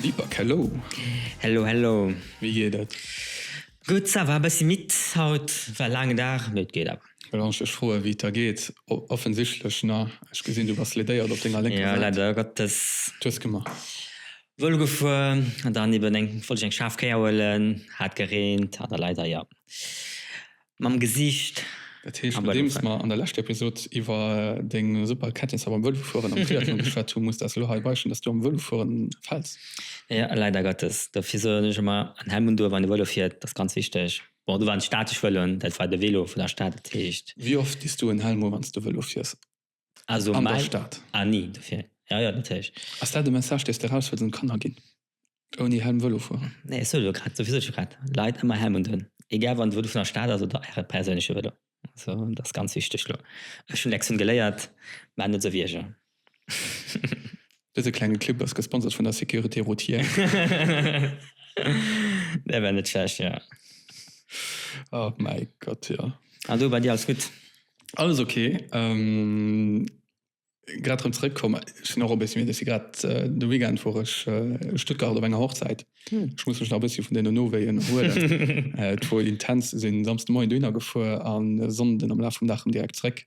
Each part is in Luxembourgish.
Vipak, hello! Hello, hello! Wéi geet et? Gutt, ça va, e bëssi midd haut, war e laangen Dag, mee et geet awer. Well wann ech dech froe wéi et der geet, offensichtlech na, ech gesinn du bass ledéiert op denger lénker Säit. Jo, leider Gottes. Tues gemaach? Vëlo gefuer an dann eben eng, wollt ech eng schaarf Kéier huelen, hat gereent, hat a leider, jo. Mam Gesiicht. Dat heescht, nodeems mer an der leschter Episod iwwer deng super Kenntnisser beim Vëlofueren am Triathlon geschwat hu, muss de eis elo hei beichten, dass du am Vëlofueren fäls. Jo, leider Gottes. Dofir soen ech ëmmer, en Helm un do, wann ee Vëlo fiert, dat ass ganz wichteg. Bon, do waren et statesch Vëloen, dat war de Vëlo vun der Stad, dat heescht. Wéi oft dis du en Helm u, wann s de Vëlo fiers? Also an der Stad. Ah, nee, dofir. Ja, ja, natierlech. Ass dat de Message, dee s de eraus wëlls un d'Kanner ginn? Ouni Helm Vëlo fueren? Nee, ech soe jo grad, dofir soot ech jo grad, Leit ëmmer Helm undun, egal wann de Vëlo vun der Stad ass oder äre perséinleche Vëlo. Also, dat ass ganz wichteg elo. Ech hunn Lektion geléiert, Maacht net esou Wierger. Dëse klenge Clip ass gesponsert vun der Sécurité Routière. Dee war net schlecht, jo. Oh mäi Gott, jo. An du, bei dir alles gutt? Alles ok. Grad rëm zeréck komm. Ech sinn och e bëssi midd. Ech si grad, de Weekend wor ech a Stuttgart op enger Hochzäit. Ech muss mech nach e bëssi vun deenen Nowéien erhuelen. Et wor intens. Sinn Samsdemoien dohinner gefuer a Sonnden am Laf vum Dag rëm direkt zeréck.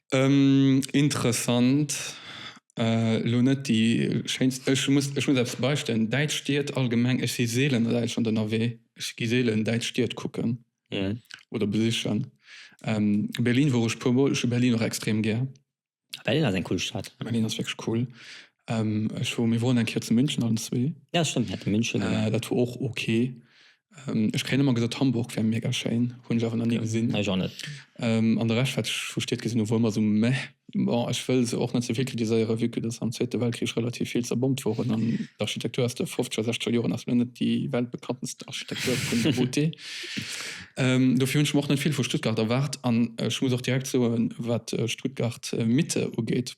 Interessant, elo net déi schéinst. Ech muss eppes beisteuern, däitsch Stied allgemeng, ech si seelen a Däitschland ënnerwee, ech gi seelen däitsch Stied kucken oder besichen. Berlin wor ech e puer mol, ech hu Berlin och extrem gär. Berlin ass eng cool Stad. Berlin ass wierklech cool. Ech wor, mir woren eng Kéier zu München allen zwee. Ja stemmt, mir hate München gemaach. Dat wor och ok. Ech kréien ëmmer gesot Hamburg wär mega schéin, hunn ech awer nach ni gesinn. Ech och net. An de Rescht wat ech vu Stied gesinn hu wor ëmmer esou meh. Bon, ech wëll se och net ze vill kritiséieren, vue que dass am zweete Weltkrich relativ vill zerbombt woren an d'Architektur aus de fofzeger, sechzeger Joren ass lo net déi weltbekanntenst Architektur vun der beauté. Dofir hunn ech mer och net vill vu Stuttgart erwaart an ech muss och direkt soen, wat Stuttgart Mitte ugeet,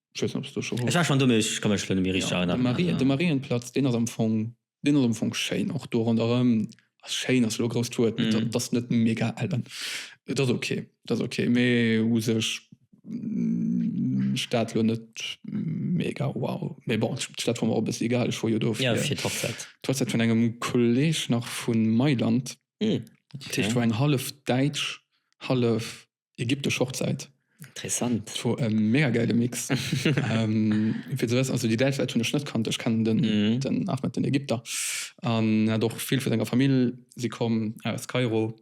Ech weess net, ob s du scho wars. Ech war schonn do, mee ech ka mech lo net méi richteg erënneren. Ja, de Mariënplatz, deen ass am Fong, deen ass am Fong schéin. Och do ronderëm, also schéin ass elo e grousst Wuert, mee dat ass net mega al. An et ass ok, et ass ok, mee u sech d'Stad lo net mega wow. Mee bon, d'Stad war mer och e bëssi egal, ech wor jo do fir d'Hochzäit vun engem Kolleeg nach vu Mailand. Dat heescht, et war eng hallef däitsch, hallef ägyptesch Hochzeit. Interessant. Et war e mega geile Mix. Fir ze wëssen, also déi däitsch Leit hunn ech net kannt, ech kennen den, den Ahmed, den Ägypter, an en hat och vill vu senger Famill si komm aus Kairo,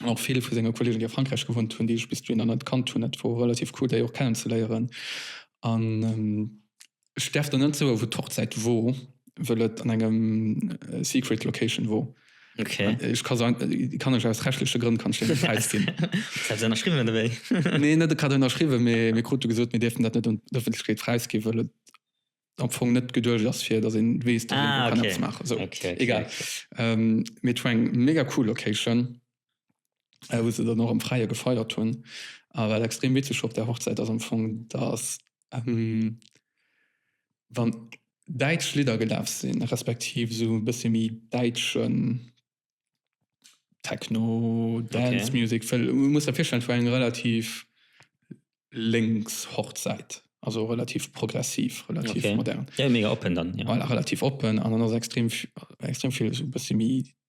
an och vill vu senge Kollegen, déi a Frankräich gewunnt hunn, déi ech bis dohinner net kannt hunn. Dat war relativ cool, déi och kennenzeléieren. An. Ech däerf der net soe wou d'Hochzäit wor, wëll et an engem secret location wor. Ech ka se, kann ech aus rechtleche Grënn kann ech déi net präis ginn. Wat hat se ënnerschriwwen an ewéi? Nee net e Cadeau ënnerschriwwen, mee mir krute gesot mir däerfen dat net un d'Ëffentlechkeet präis ginn, wëll et am Fong net geduecht ass fir datt een weess datt een do kann eppes maachen. Sou egal. Mee et wor eng mega cool Location. äh, wou se dann och am Fräie gefeiert hunn. A wat extrem witzeg op där Hochzäit ass am Fong, datt ähm, wann däitsch Lidder gelaf sinn, respektiv esou e bësse méi däitschen Techno, Dance Music, well du muss der virstellen, et war eng relativ lénks Hochzäit, also relativ progressiv, relativ modern, voilà, relativ oppen an dann ass extrem vill esou e bësse méi.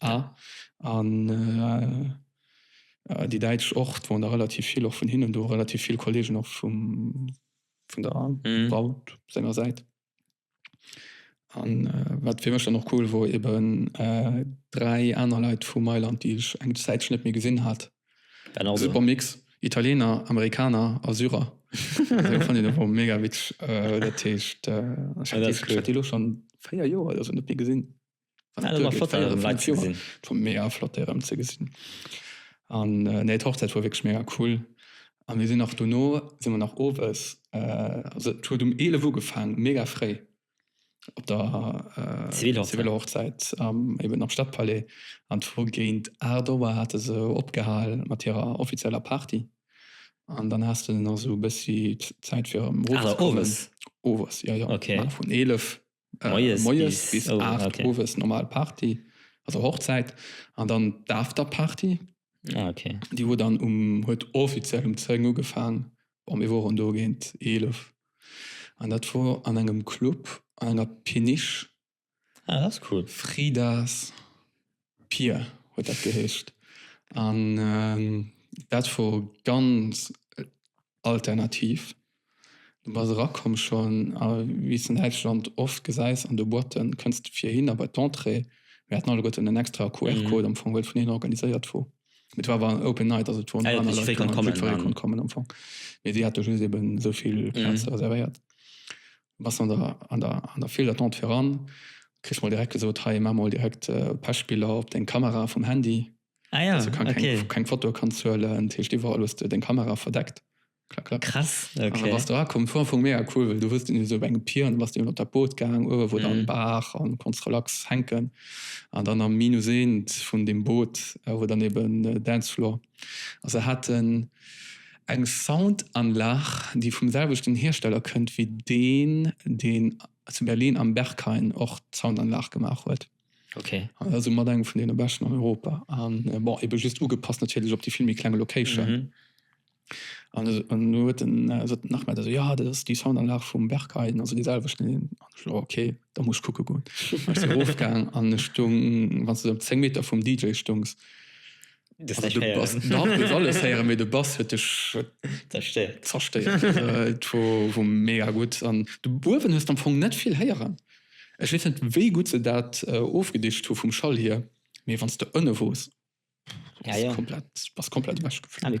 Ah. An déi Däitsch och, et woren der relativ vill och vun hinnen do, relativ vill Kollegen och vum, vun der Wout senger Säit. An wat fir mech dann och cool wor, eben dräi aner Leit vu Mailand, déi ech eng Zäitche net méi gesinn hat, e super Mix, Italiener, Amerikaner a Syrer. Dat fand een e puer mega witzeg. Dat heescht, ech hat déi elo schonn véier Joer oder esou net méi gesinn. mega flott erem ze gesinn an nee d'Hochzäit war wierklech mega cool a mir sinn nach dono si mer nach owes also et huet um 11 Uhr ugefaang mega fréi op der ziviler Hochzäit eben am Stadpalais an d'Fro géint 8 Auer hate se opgehal mat hirer offizieller Party an dann has de nach esou e bëssi Zäit fir erem erofzekommen owes jo jo vun 11 Moies, Moies bis 8 oh, okay. Owes normal Party, also Hochzäit an dann d'Afterparty. Ah, okay. Déi huet dann um huet offiziell um 10 ugefaang. Bon, mir woren do géint 11. An dat wor an engem Club an enger Péniche. Ah, dat ass cool. Fridas. Pier huet dat geheescht. An dat wor ganz alternativ. Du bass erakomm schonn a wéi s de an Däitschland oft gesäis an de Boîten, kënns de fir hinner bei d'Entrée. Mir haten alleguerten en extra QR-Code am Fong, well et vun hinne organiséiert wor. Mee et war awer en Open Night, also et woren aner Leit kommen, wou jiddweree konnt kommen am Fong. Mee si hate just eben esou vill Plaze reservéiert. Bass an der file d'attente viran, kriss mol direkt gesot, hei maach mol direkt Pechbiller op deng Kamera vum Handy, dass de keng Fotoe kanns huelen. Dat heescht iwwerall hues de deng Kamera verdeckt. Klack klack. Krass, ok. An da bass de erakomm. Vu Anfang u mega cool, well du hues den esou op engem Pier an da bass de iwwert dat Boot gaang, uewe wor dann Baach an konns relax hänken. An dann am Minus eent vun deem Boot wor dann eben Dancefloor. A se haten eng Soundanlag, déi vum selwechten Hiersteller kënnt wéi deen, deen zu Berlin am Berghain och d'Soundanlag gemaach huet. Okay. An ass soumat eng vun deene beschten an Europa. An bon, ebe just ugepasst natierlech op déi vill méi kleng Location. Mhm. An esou, an elo huet en esou den Ahmed esou, jo, dat ass déi Soundanlag vum Berghain, also déi selwechten. An ech esou, oh, okay, da muss ech kucke goen. An ech sinn erofgaang an ech stoung, wann s de esou zéng Meter vum DJ stoungs, De Bass huet dech zerstéiert. Et wor mega gutt an de Buerwen hues am Fong net vill héieren. Ech weess net wéi gutt se dat ofgedicht hu vum Schall hier, mee wann s de ënne wors, bass komplett ewech geflunn.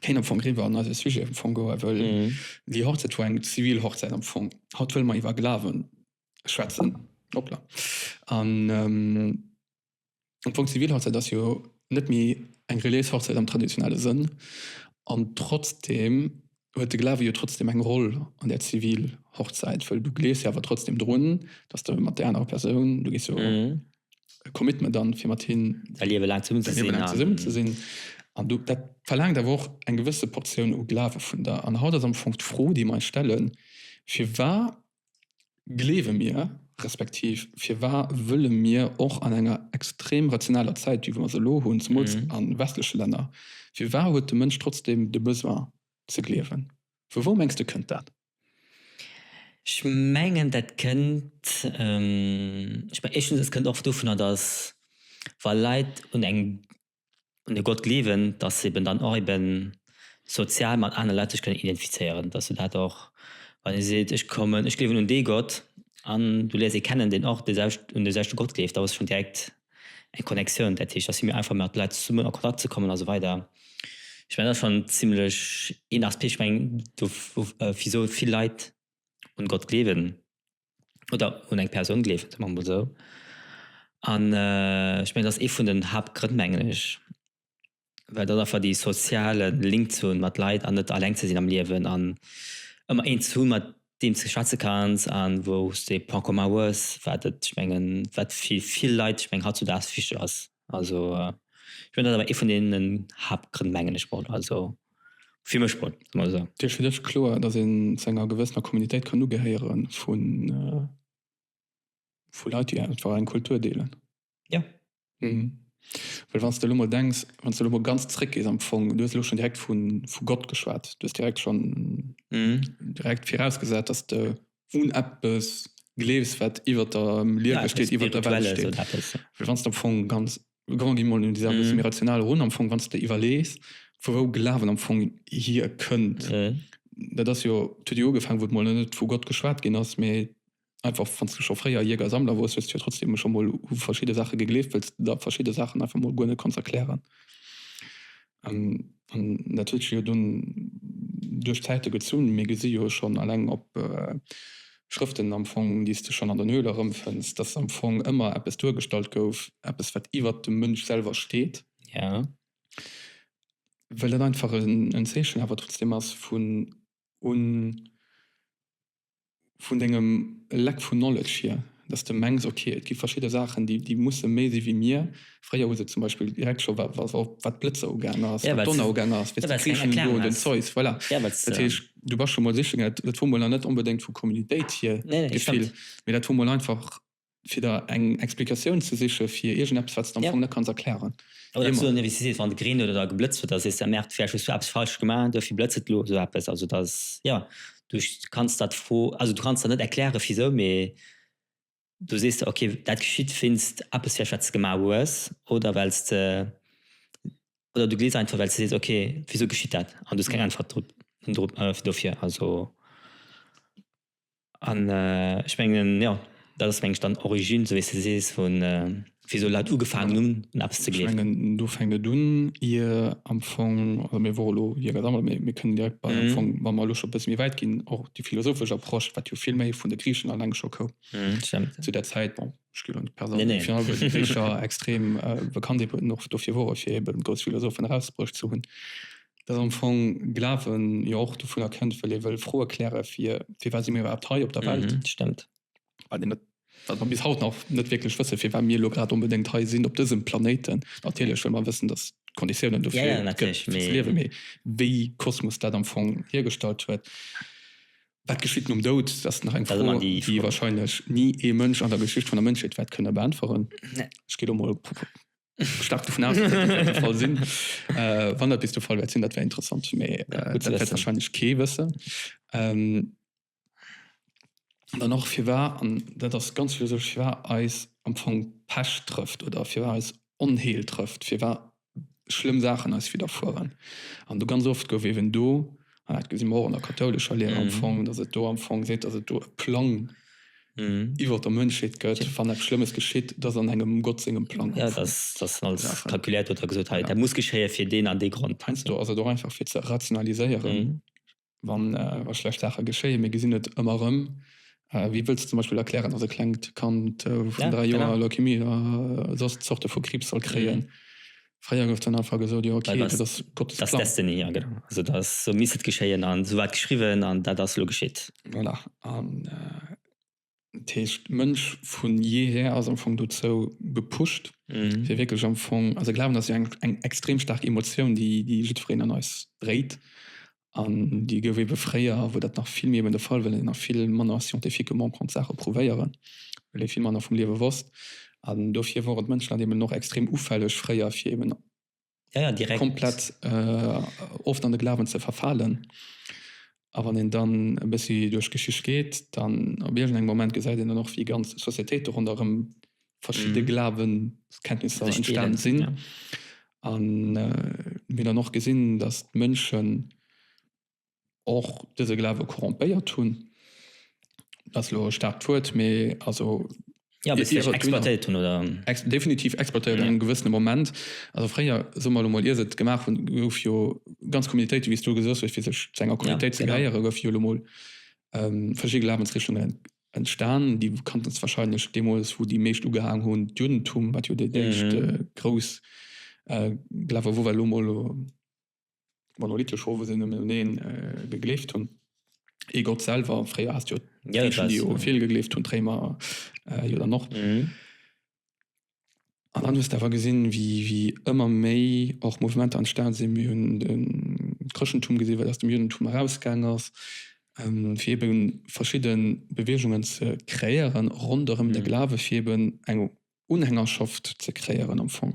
kéint am Fong riwwer an eise Sujet am Fong goen, wëll déi Hochzäit war eng zivil Hochzäit am Fong. Haut wëlle mer iwwer Glawen schwätzen. Hoppla. An am Fong zivil Hochzäit ass jo net méi eng reliéis Hochzäit am traditionelle Sënn an trotzdeem huet de Glawe jo trotzdeem eng Roll an där zivil Hochzäit, wëll du gleefs jo awer trotzdeem drun, dass de mat där anerer Persoun, du gees jo, e Commitment an, fir mat him säi Liewe laang zesummen ze sinn. Zesummen ze sinn an do dat verlaangt awer och eng gewësse Portioun u Glawe vun der. An haut ass am Fong d'Fro, déi mer eis stellen, Firwa gleewe mir, respektiv firwa wëlle mir och an enger extrem rationaler Zäit, wéi mer se elo hunn, zemools a westleche Länner, firwa huet de Mënsch trotzdem de Besoin ze gleewen? Vu wou mengs de kënnt dat? Ech mengen dat kënnt, éischtens et kënnt oft dovunner, datt wa Leit un eng, un e Gott gleewen, datt se eben dann och eben sozial mat anere Leit sech kënnen identifizéieren, datt se dat och, wann ee seet ech kommen, ech gleewen un dee Gott an du léiers ee kennen deen och un deeselwechte Gott gleeft, da hues de schonn direkt eng Connectioun, dat heescht, dass si méi einfach mat Leit zesummen a Kontakt ze kommen a sou weider. Ech mengen, dat ass schonn zimlech een Aspekt. Ech mengen, do wisou vill Leit un Gott gleewen oder un eng Persoun gleewen, soe mer emol esou, an ech mengen, dat ass ee vun den Haaptgrënn, mengen ech. well dat einfach déi soziale Link ze hunn mat Leit an net alleng ze sinn am Liewen an ëmmer een ze hunn mat deem s de schwätze kanns an wou s de e Point commun hues wat et ech mengen wat fir vill Leit ech mengen hautzudags wichteg ass. Also ech mengen dat ass awer ee vun deenen Haaptgrënn mengen ech mol also fir mech mol soe mer esou. Et ass fir dech kloer dass een zu enger gewëssener Communitéit kann ugehéieren vu vu Leit déi einfach eng Kultur deelen? Ja. Mhm. Well wann s de lo mol denks, wann s de lo mol ganz zréckgees am Fong, du hues elo schonn direkt vu vu Gott geschwat, du hues direkt schonn mhm. direkt virausgesat, dass de un eppes gleefs, wat iwwer der Liewe ja, steet, iwwer der Welt steet. So Well wann s de am Fong ganz grand gi mol dieser mhm. mir rational run am Fong, wann s de iwwerlees, vu wou Glawen am Fong hier kënnt. Mhm. Dat ass jo huet jo ugefaangen, wou mol net vu Gott geschwat ginn ass, méi einfach wanns du scho fréier Jäger Sammler wors, hues de jo trotzdem scho mol u verschidde Saache gegleeft, well s de der verschidde Saachen einfach mol guer net konns erklären. An dat huet sech jo dunn duerch d'Zäite gezunn. Mir gesi jo schonn alleng op Schrëften am Fong, déi s de schonn an den Höhler erëmfënns, dass am Fong ëmmer eppes duergestallt gouf, eppes wat iwwert dem Mënsch selwer steet, well dat einfach en Zeechen awer trotzdem ass vun un vun dengem lack vun knowledge hier, dass de mengs ok et gi verschidde Saachen déi musse méi si wéi mir, fréier hues de zum Beispill direkt scho wat d'Blëtzer ugaang ass, wat d'Donner ugaang ass, weess de Griechen elo oder den Zeus, voilà, dat heescht du bass scho mol sichen, dat hu mol nach net onbedéngt vu Communitéit hier d'Gefill, mee dat hu mol einfach. fir der eng Explikatioun ze siche fir iergendeppes, wat s de am Fong net kanns erklären. Oder datt s du dann ierwéi sees, wann et gereent huet oder geblëtzt huet, datt s sees, ja merde, vläicht hues du eppes falsch gemaach, duerfir blëtzt et elo, esou eppes. Also datt, jo, du kanns der d'Fro, also du kanns der net erkläre wisou, mee du sees der, ok, dat geschitt wéinst eppes vläicht, wat s de gemaach hues oder well s de, oder du glees einfach, well s de sees, ok, wisou geschitt dat? An du hues keng Äntwert drop, dofir, also. An ech mengen, jo, dat ass mengen ech dann d'Origine, esou wéi s de sees, vu wisou Leit ugefaangen hunn un eppes ze gleewen. Ech mengen, do fänkt et un, ier am Fong, also mir wore elo ier ganz einfach, mee mir kënnen direkt bei am Fong, wa mer elo scho e bësse méi wäit ginn, och déi philosophesch Approche, wat jo vill méi vun de Griichen eleng scho koum zu där Zäit. Bon, extrem bekannt och dofir wore fir eben grouss Philosophen erausbruecht ze hunn, datt am Fong Glawen jo och dovunner kënnt, well ee wëll Froe kläre fir firwat si mir iwwerhaapt hei op der Welt. Dat stëmmt. Bei deem wat mer bis haut nach net wierklech wësse firwat mir elo grad onbedéngt hei sinn op dësem Planéiten. Natierlech wëlle mer wëssen, datt d'Konditiounen dofir gëtt fir ze liewen, mee wéi Kosmos dat am Fong hiergestallt huet. Wat geschitt nom Doud? Dat ass nach eng Fro, déi warscheinlech ni ee Mënsch an der Geschicht vun der Mënschheet wäert kënne beäntweren. Ech geet och mol staark dovun aus, datt dat wäert de Fall sinn. Wann dat bis de Fall wäert sinn, dat wär interessant, mä dat wäert warscheinlech kee wëssen. An dann och, firwar, an dat ass ganz philosophesch, firwar eis am Fong Pescht trëfft oder firwar eis Onheel trëfft, firwar schlëmm Saachen eis widderfueren. An do ganz oft gouf eben do, an dat gesi mer och an der kathoulescher Lehr am Fong, dass et do am Fong seet, dass et do e Plang iwwer der Mënschheet gëtt, wann eppes Schlëmmes geschitt, dass an engem Gott sengem Plang am Fong all Saache kalkuléiert huet a gesot, hei dat muss geschéie fir deen an dee Grond. Heiansdo ass et och einfach fir ze rationaliséieren. wann wa schlecht Saache geschéien, mir gesinn et ëmmer erëm, wéi wëlls de zum Beispill erklären, datt e klengt Kand vun dräi Joer Leukemie a soss Zorte vu Kriibs soll kréien? Fréier gouf dann einfach gesot, jo ok, dat ass Gottes Plang. Dat ass Destiny, jo genau, also dat ass, esou misst et geschéien an esou war et geschriwwen an dat ass elo geschitt. Voilà, an. Dat heescht, de Mënsch vu jeher ass am Fong dozou gepusht, fir wierklech am Fong, also Glawen ass jo eng extrem staark Emotioun, déi jiddwereen an eis dréit an déi gouf ebe fréier, wou dat nach vill méi eben de Fall war, well een nach vill manner scientifiquement konnt Saache prouvéieren, well ee vill manner vum Liewe wosst. An dofir wore d'Mënschen dann eben och extrem ufälleg fréier fir eben ja, ja, direkt komplett äh, oft an de Glawen ze verfalen. A wann een dann e bëssi duerch Geschicht geet, dann op iergend engem Moment gesäit een dann och, wéi ganz Societéit do ronderëm verschidde mhm. Glawenskenntnisser entstan sinn. Ja. An äh, mir dann och gesinn, dass d'Mënschen och dëse Glawe corrompéiert hunn, dat ass elo e staarkt Wuert, mee also. Jo, bis si ech exploitéiert hunn oder? Definitiv exploitéiert an engem gewëssene Moment. Also fréier, soe mer elo mol, ier se et gemaach hunn, gouf jo ganz Communautéite, wéi s du gesot hues, fir sech zu enger Communautéit ze gehéieren, goufe jo elo mol verschidde Glawensrichtungen entstan, déi bekannten ass warscheinlech deemools, wou déi meescht ugehaang hunn, d'Juddentum, wat jo déi éischt grouss Glawe wor, well elo mol. Monolithe Chauve sinn nëmmen un een gegleeft hunn, ee Gott selwer. Fréier has de jo d'Gréichen, déi u vill gegleeft hunn, d'Réimer jo dann och. An dann hues de awer gesinn, wéi ëmmer méi och Mouvementer entstane sinn. Mir hunn de Chrëschtentum gesinn, wat aus dem Juddentum erausgaang ass, fir ebe verschidde Beweegungen ze kreéieren ronderëm de Glawe, fir eben eng Unhängerschaft ze kréieren am Fong.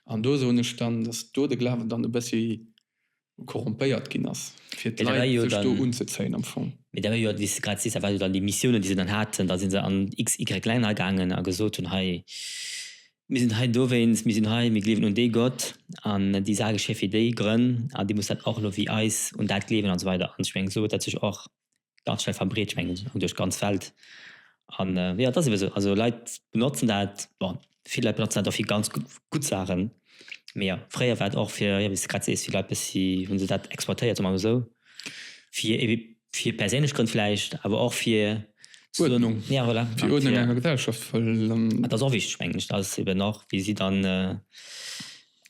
An do soen ech dann, dass do de Glawen dann e bëssi korrompéiert ginn ass, fir d'Leit sech do unzezéien am Fong. Mee dat war jo, wéi s de grad sees, dat war jo dann déi Missiounen, déi se dann haten. Da si se an x-, y-, Länner gaangen a gesot hunn, Hei, mir sinn hei dowéinst, mir sinn hei, mir gleewen un dee Gott an déi Sak ass hei fir déi Grënn a dir musst dat och elo wéi eis un dat gleewen an esou weider. An ech mengen, esou huet dat sech och ganz schnell verbreet ech mengen duerch ganz Welt an jo dat ass ebe sou also Leit benotzen dat bon vill Leit benotzen dat och fir ganz gutt Saachen mee jo fréier war et och fir jo wéi s de grad sees vill Leit bëssi hunn se dat exploitéiert soe mer mol sou fir ebe fir perséinlech Grënn vläicht awer och fir Uerdnung ja voilà fir Uerdnung an der Gesellschaft well dat ass och wichteg mengen ech dat ass ebe nach wéi si dann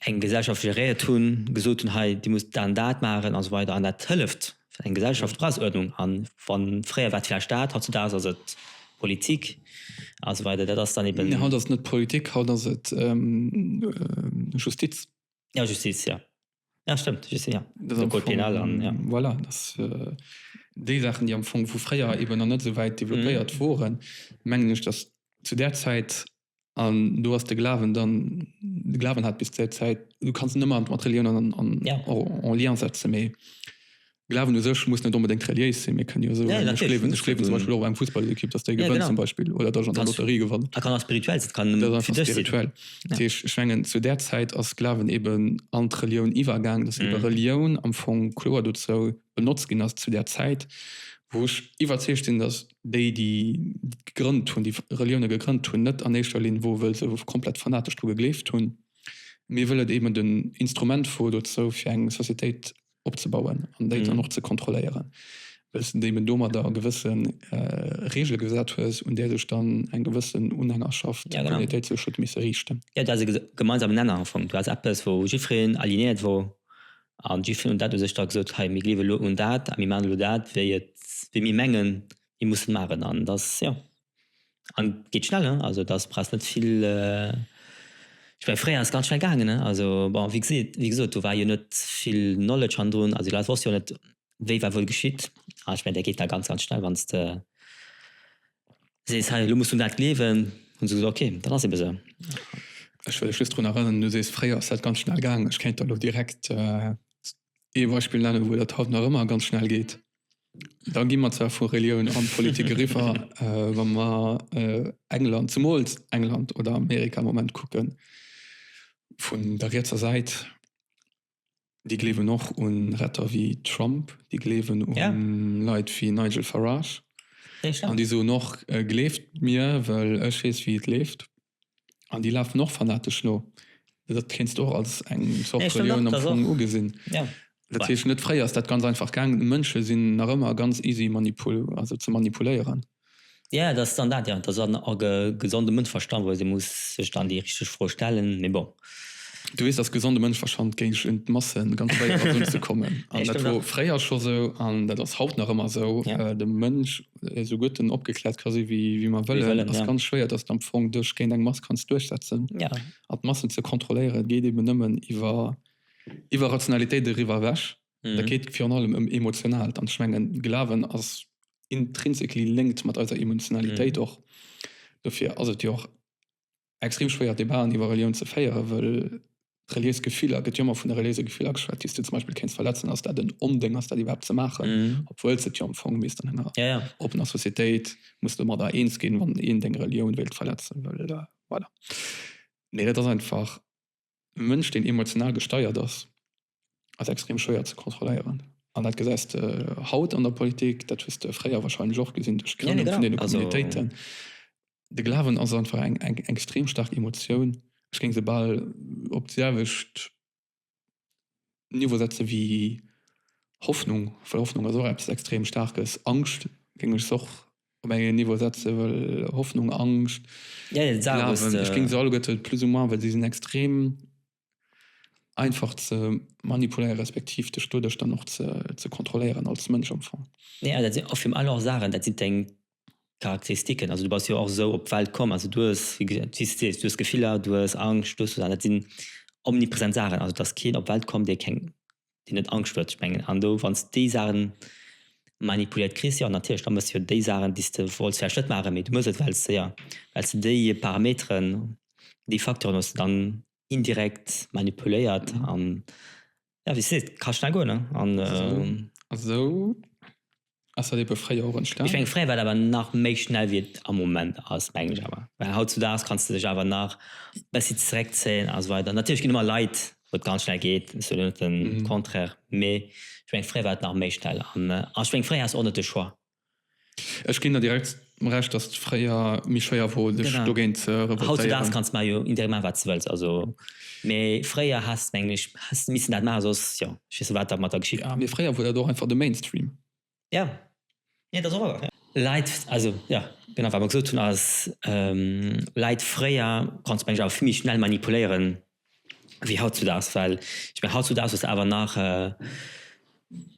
eng Gesellschaft geréiert hunn, gesot hunn, hei dir musst dat an dat maachen a sou weider an dat hëlleft fir eng Gesellschaft Preiseuerdnung an wa fréier war et vläicht dat, hautzudags ass et Politik a sou weider dat ass dann eben. Nee haut ass et net d'Politik, haut ass et Justiz. Jo Justiz jo, jo stëmmt Justiz jo, de Code pénal an jo. Voilà dat déi Saachen déi am Fong vu fréier eben nach net esou wäit développéiert woren mengen ech datt zu där Zäit an do ass de Glawen dann, de Glawen hat bis där Zäit, du kanns en ëmmer mat Relioun an, an ja. en Lien setze méi. Glawen u sech muss net onbedéngt reliéis sinn, mir kënne jo soen, ja, ech gleewen, ech gleewen zum Beispiel och eng Fussballekipp, dass déi gewënnt ja, genau. zum Beispiel oder dass an der Lotterie gewann. Dat kann ass spirituell, dat kann dat fir dech spirituell. Ja. Ech, ech mengen zu där Zäit ass Glawen eben an d'Relioun iwwergaang, dass mhm. Relioun am Fong kloer dozou benotzt ginn ass zu der Zäit, wou ech iwwerzeegt sinn, dass déi déi gegrënnt hunn, déi Relioune gegrënnt hunn, net an éischter Linn wou wëll se komplett fanatesch dru gegleeft hunn. Mir wëllen eben den Instrument vu dozou fir eng Societéit opzebauen an déi dann och ze kontrolléieren, well s de eben domadder gewësse Reegele gesat hues, un där sech dann eng gewëssen Unhängerschaft, Communautéit sech huet misse riichten. Jo, du hues e gemeinsamen Nenner am Fong. Du hues eppes wou jiddwereen alignéiert wor, An déi hunn dat u sech da gesot, hei mir gleewe lo un dat a mir maachen elo dat wéi et, wéi mir mengen mir mussen maachen. An et ass jo, an et geet schnell hein, also et ass brauchst net vill, ech mengen fréier ass ganz schnell gaangen hein, also bon wéi geseet, wéi gesot do war jo net vill Knowledge hannendrun, also déi Leit wosste jo net, wéi war wuel geschitt? Ah, ech mengen, dat geet da ganz, ganz schnell, wann s de sees, hei, elo muss un dat gleewen, hu se gesot, okay, dat ass eebe sou. Ech wëll lech just drun erënneren, du sees, fréier ass dat ganz schnell gaangen. Ech kéint der elo direkt ee Beispill nennen, wou dat haut nach ëmmer ganz schnell geet. Da gi mer zwar vu Relioun an Politik eriwwer, wa mer England, zemools England oder Amerika am Moment kucken, vun der rietser Säit, Déi gleewen och u Retter wéi Trump, déi gleewen u Leit wéi Nigel Farage. An déi soen och, gleeft mir, well ech weess, wéi et leeft. An déi lafen och fanatesch no. Dat kéints de och als eng Zort Relioun am Fong ugesinn. Dat heescht net, fréier ass dat ganz einfach gaangen. Mënsche sinn nach ëmmer ganz easy ze manipuléieren. Ja, et ass dann dat, jo. Et ass dann a gesondem Mënschverstand, wou ee se muss sech dann déi richteg Fro stellen, mee bon. Du weess, datt gesonde Mënschverstand géint un d'Masse ganz schwéier ass unzekommen. An dat wor fréier scho sou an dat ass haut nach ëmmer sou. De Mënsch, esou gutt en opgekläert ka si wéi mer wëllen, ass ganz schwéier, datt s de am Fong dech géint eng Mass kanns duerchsetzen. An d'Massen ze kontrolléieren, et geet eeben nëmmen iwwer Rationalitéit eriwwer ewech. Mm. Da geet virun allem ëm Emotionaalt. An ech mengen, Glawen ass intrinsically linked mat eiser Emotionalitéit och. Dofir ass et jo och extrem schwéier, Debaten iwwer Relioun ze féieren, wëll reliéis Gefiller, gëtt jo ëmmer vun de reliéise Gefiller geschwat, déi s de zum Beispill kéints verletzen. Ass dat en Ondéng, ass dat iwwerhaapt ze maachen, Mm. obwuel s de d'jo am Fong misst an enger Ja, ja. oppener Societéit, muss de domadder eens ginn, wann een deng Relioun wéilt verletzen, wëll, voilà. Mee dat ass einfach. E Mënsch, deen emotional gesteiert ass, ass extrem schwéier ze kontrolléieren. An dat gesäis de haut an der Politik, dat hues de fréier warscheinlech och gesinn, duerch d'Grënnung vun deene Communautéiten. De Glawen ass einfach eng extrem staark Emotioun. Ech géing se bal op d'selwecht Niveau setze wéi Hoffnung, well Hoffnung ass och eppes extrem Staarkes. Angscht géing ech se och op engem Niveau setze well Hoffnung, Angscht, Glawen, ech géing se alleguerte plus ou moins, well si sinn extrem einfach ze manipuléiere respektiv dech doduerch dann och ze kontrolléieren als Mënsch am Fong. Nee, dat sinn och virun allem och Saachen, dat sinn deng Charakteristiken, also du bass jo och esou op d'Welt komm, also du hues, wéi du just sees, du hues Gefiller, du hues Angscht, du hues dat sinn omnipresent Saachen, also et ass keen op d'Welt komm, dee keng, deen net Angscht huet. Ech mengen an do, wann s déi Saachen manipuléiert kriss, jo natierlech, da méchs jo déi Saachen, déi s de wollts vläicht net maachen, mee du méchs et, well s de, jo, well s de déi Parameteren, déi Facteuren hues de dann indirekt manipuléiert an Ja, wie seet, ka schnell goen, ne? An, ähm, Esou ass dat ebe fréier och entstanen. ech meng, fréier war et awer nach méi schnell, wéi et am Moment ass, mengen ech awer. Well hautzudaags kanns de dech awer nach e bëssi zeréckzéien a sou weider. Natierlech ginn ëmmer Leit, wou et ganz schnell geet, ech soen net den Contraire, mee ech meng, fréier war et nach méi schnell. An, ech meng, fréier haas de och net de Choix. Ech ginn der direkt Recht, dass et fréier méi schwéier wor, sech dogéint ze revoltéieren. Hautdesdaags kanns mar jo indirekt maachen, wat s de wëlls. Also, mee fréier häss, mengen ech, häss de missen dat maachen, soss, jo, ech weess net, wat da mat der geschitt wär. Mee fréier wor dat och einfach de Mainstream. Jo, jo, dat ass och wahr. Leit, also, jo, genau, wat mer gesot hunn, ass, Leit fréier konnt's, mengen ech, awer vill méi schnell manipuléieren, wéi hautzudaags. Well ech mengen, hautzudaags hues de awer nach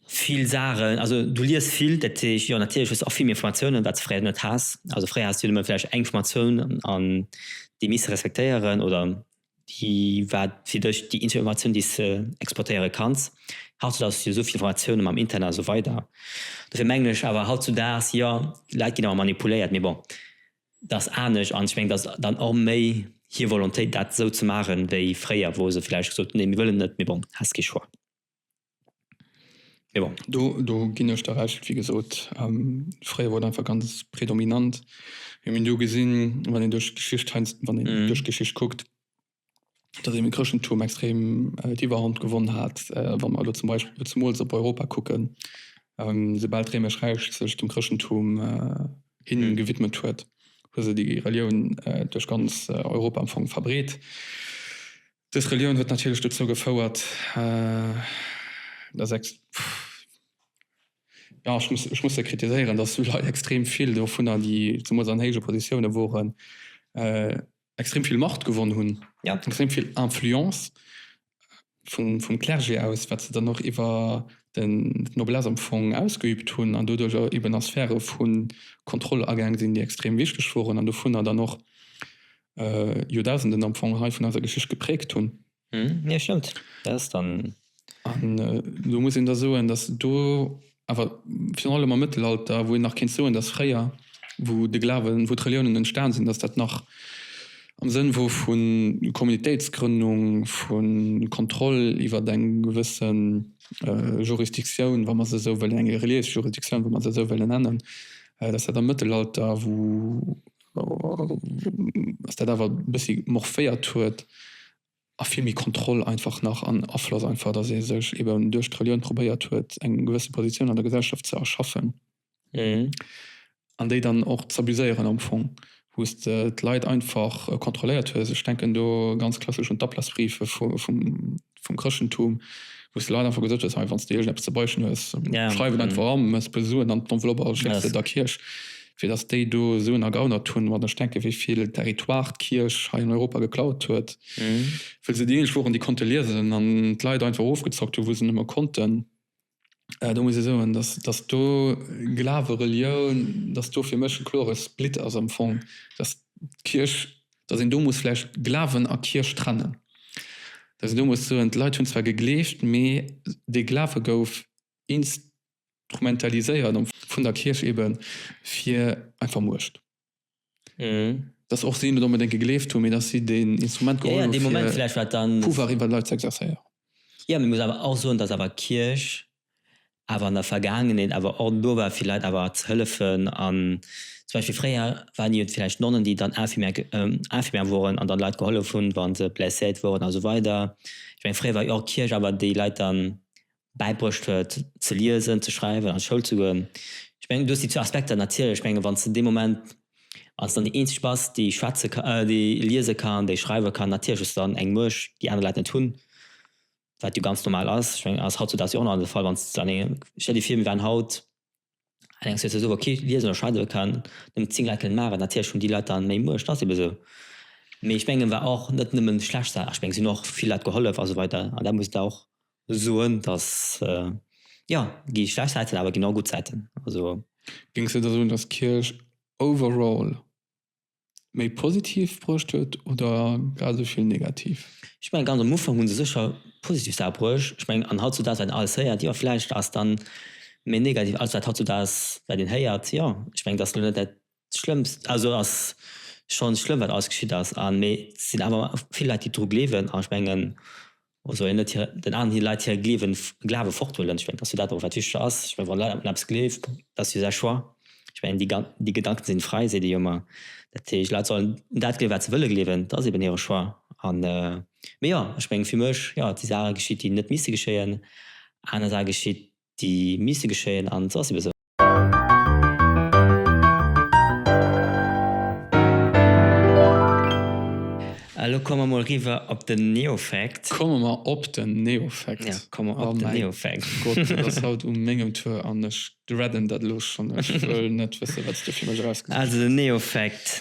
vill Saachen, also du liest vill, dat heescht, jo natierlech hues de och vill méi Informatiounen, wat s de fréier net has. Also fréier has de jo nëmme vläicht eng Formatioun an déi misst de respektéieren oder déi war fir dech déi eenzeg Informatioun, déi s de exploitéiere kanns. Hautzudaags hues de jo esou vill Informatiounen mam Internet a sou weider. Dofir mengen ech awer hautzudaags, jo d'Leit ginn awer manipuléiert, mee bon. Dat ass anescht an ech mengen, dat ass dann och méi hir Volontéit, dat esou ze maachen, wéi fréier, wou se vläicht gesot hunn, nee, mir wëllen net, mee bon, häss kee Choix. Mee bon. Do ginn ech der Recht. Wéi gesot, fréier wor et einfach ganz predominant. Mir hunn do gesinn, wann een duerch d'Geschicht heiansdo, wann een duerch d'Geschicht kuckt, dass eben de Chrëschtentum extrem d'Iwwerhand gewonn hat, wa mer elo zum Beispill zemools op Europa kucken, soubal d'Réimesch Räich sech dem Chrëschtentum hinne gewidmet huet, hu se déi Relioun duerch ganz Europa am Fong verbreet. Dës Relioun huet natierlech dozou gefouert, dass, jo, ech muss, ech muss se kritiséieren, dass esou Leit extrem vill dovunner, déi zemools an héije Positiounen woren, extrem vill Macht gewonnen hun, ja. extrem vill Influence vum, vum Clergé aus, wat se dann och iwwer den Noblesse am Fong ausgeübt hunn an doduerch och eben a Sphäre vu Kontroll agaang sinn, déi extrem wichteg woren an dovunner dann och äh, Joerdausenden am Fong hei vun eiser Geschicht gepräägt hunn. Hm, jo stëmmt, dat ass dann. An do muss een da soen, datt do awer virun allem am Mëttelalter, wou een nach kéint soen, datt fréier, wou de Glawen, wou d'Reliounen entstan sinn, datt dat nach am Sënn wor vu Kommunitéitsgrënnung, vu Kontroll iwwer eng gewësse Jurisdiktioun, wa mer se esou wëllen, eng reliéis Jurisdiktioun, wa mer se esou wëllen nennen, datt dat am Mëttelalter, wou. Ass dat awer e bëssi morphéiert huet a vill méi Kontroll einfach nach an Afloss einfach, datt ee sech eben duerch d'Relioun probéiert huet, eng gewësse Positioun an der Gesellschaft ze erschaffen an déi dann och z'abuséieren am Fong, wou s de d'Leit einfach kontrolléiert hues. Ech denken do ganz klassesch un d'Ablassbriefe vum. vum Chrëschtentum, wou s de Leit einfach gesot hues, hei, wann s de iergend eppes ze beichten hues, schreif et einfach eran, mat e puer Suen an d'Enveloppe a schécks se der Kierch, fir datt déi do Suen ergaunert hunn. Wann ech denken, wéi vill Territoire d'Kierch hei an Europa geklaut huet, wëll se déi eenzeg woren, déi konnte liesen an d'Leit einfach ofgezockt hunn, wou se nëmme konnten. do muss ee soen dass dass do Glawe Relioun dass do fir mech e klore Split ass am Fong dass d'Kierch dass een do muss vläicht Glawen a Kierch trennen dass een do muss soen d'Leit hunn zwar gegleeft mee dee Glawe gouf instrumentaliséiert vun der Kierch eben fir einfach Muecht. Mhm. Dass och si net onbedéngt gegleeft hunn, mee dass si deen Instrument geholl hunn, fir Pouvoir iwwer Leit ze exerzéieren. Jo, mee muss awer och soen, dass awer d'Kierch awer an der Vergaangenheet awer och do war, fir Leit awer ze hëllefen. An zum Beispill fréier waren jo vläicht Nonnen, déi dann Infirmière, Infirmière woren an dann Leit gehollef hunn, wa se blesséiert woren a sou weider. Ech meng, fréier war jo och d'Kierch awer, déi Leit dann bäibruecht huet ze liesen, ze schreiwen, an d'Schoul ze goen. Ech mengen du hues déi zwou Aspekter natierlech. Ech mengen wann s de dee Moment als dann déi eenzeg bass déi schwätze ka, déi liese kann, déi schreiwe kann, natierlech hues de dann eng Muecht déi aner Leit net hunn, wat jo ganz normal ass. Ech mengen ass hautzudaags jo och nach de Fall wann s de an engem, stell dir vir mir waren haut Allerdings huet se esou kee liesen oder schreiwe kann, nëmmen 10 Laken maachen, natierlech hunn déi Leit dann méi Muecht, ass eben esou. Mee ech mengen war och net nëmmen schlecht Saachen, ech mengen se hunn och vill Leit gehollef a sou weider an dat muss et och soen, dass jo gi schlecht Säiten, awer ginn och gutt Säiten also. Géings de da soen, dass d'Kierch overall méi positiv bruecht huet oder grad esou vill negativ? Ech mengen ganz am Ufank hu se sécher positiv Saache bruecht. Ech mengen an hautzudags wat een alles héiert, jo vläicht ass dann méi negativ alles wat hautzudags wat een héiert, jo ech mengen dass elo net dat schlëmmst, also ass schonn schlëmm wat alles geschitt ass an mee sinn awer vill Leit déi dru gleewen an ech mengen Also een net den aneren Leit hire Gleewen, Glawe forthuelen. Ech mengen, dass jo dat och wat wichteg ass. Ech mengen, wann Leit un eppes gleeft, dat ass jo säi Choix. Ech mengen, déi gan, déi Gedanken sinn fräi, seet ee jo ëmmer. Dat heescht, Leit sollen un dat gleewen, wat se wëlle gleewen. Dat ass eben hire Choix. An, mee jo, ech mengen, fir mech, jo, et si Saache geschitt, déi net misste geschéien. Aner Saache geschitt, déi miisste geschéien, an se ass ebe sou. A lo komme mer mol eriwwer op den Neofact. Komme mer op den Neofact. Jo, komme mer op den Neofact. Oh mäi Gott, et ass haut u mengem Tour an ech dreaden dat elo schonn. Ech wëll net wëssen, wat s du fir mech erausgesuergt hues. Also den Neofact,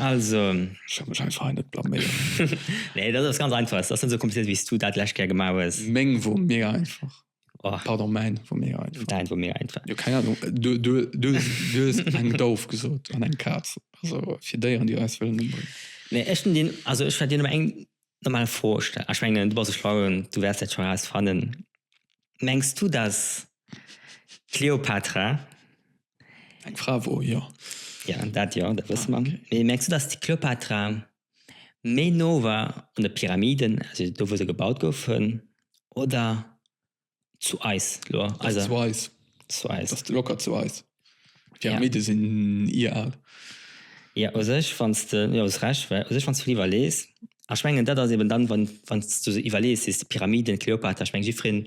also. Ech wëll mech einfach hei net blaméieren. Nee, dat ass ganz einfach. Et ass net esou komplizéiert, wéi s du dat d'lescht Kéier gemaach hues. Meng wor méi einfach. Oh. Pardon, mein war mega einfach. Dein war mega einfach. Ja, keine Ahnung. Du, du, du, du hast eng Dauf gesucht an eng Katz. Also für Déieren, die eis wollen umbringen. Nee, ich den, also ich werde dir nur eng normale Frage stellen. Ich meine, du bist ein Schlauen, du wirst das schon herausfinden. Meinst du, dass Cleopatra. Eng Frau war, ja. Ja, das ja, das wissen wir. Ah, okay. Nee, meinst du, dass die Cleopatra méi no war un de Pyramiden, also do wou se gebaut goufen, oder zu eis elo? Ass zu eis. Zu eis. Ass locker zu eis. Pyramide ja. sinn ieraal. Ja u sech wanns de, jo hues Recht, well u sech wanns du iwwerlees, ech mengen dat ass eben dann wann wanns du se iwwerlees, si se d'Pyramiden, d'Kleopatra, ech meng jiddwereen,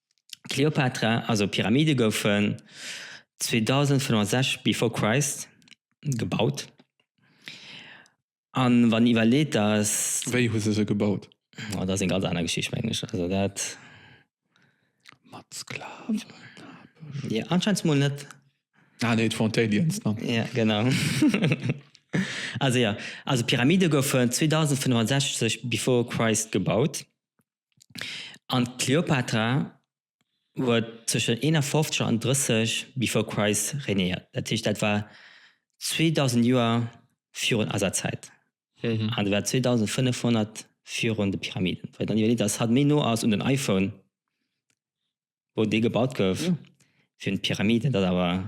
D'Kleopatra, also d'Pyramide goufen 2560 before Christ gebaut an wann iwwerleet dass. Wéi hu se se gebaut? Oh dat ass eng ganz aner Geschicht mengen ech, also dat. Mat Sklaven? Jo anscheinend mol net. Ah nee d'wor d'Aliens dann. Jo genau. Also jo, also d'Pyramide goufen 2560 before Christ gebaut. An d'Kleopatra huet tëschent 51 an 30 before Christ regnéiert. Dat heescht, dat war 2000 Joer virun eiser Zäit. An dat war 2500 virun de Pyramiden. Wa een dann iwwerleet, dass hatt méi no ass un den iPhone, wou dee gebaut gouf, wéi un d'Pyramiden, dat ass awer.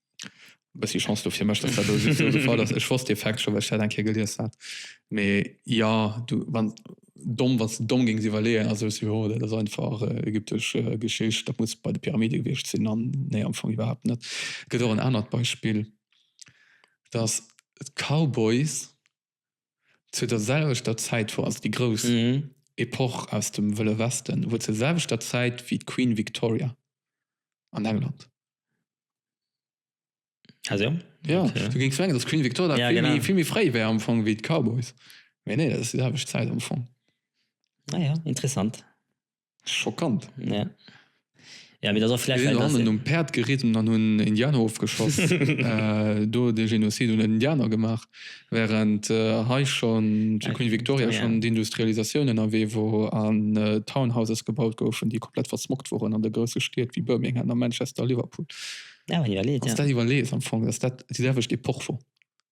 Bëssi Chance do fir mech, datt dat do sou esou de Fall ass. Ech wosst dee Fact scho, well ech dat eng Kéier gelies hat. Mee jo, du, wann, domm, wann s de domm géings iwwerleeën a soos, jo, dat ass einfach ägyptesch Geschicht, dat muss bei de Pyramide gewiescht sinn, an nee, am Fong iwwerhaapt net. Et gëtt och en anert Beispill, datt d'Cowboys. zu der selwechter Zäit wor, also déi grouss Epoch aus dem Wëlle Westen, wor zur selwechter Zäit wéi d'Queen Victoria an England. Ah so? Ja, okay. du géings mengen, dass d'Queen Victoria ja, vill, genau. méi, vill méi fréi wär am Fong wéi d'Cowboys. Mee nee, dat ass déi selwecht Zäit am Fong. Ah ja, interessant. Schockant. Ja. Ja, mee dat ass och vläicht. Déi sinn hannen um Päerd geritt an dann hunn Indianer ofgeschoss. Do de Genozid un den Indianer gemaach. Während hei schonn zu Queen Victoria schonn d'Industrialisatioun ënnerwee wor an Townhouses gebaut goufen, déi komplett versmockt woren an de grousse Stied wéi Birmingham a Manchester a Liverpool. Wann s de dat iwwerlees am Fong, datt dat déi selwecht Epoch wor.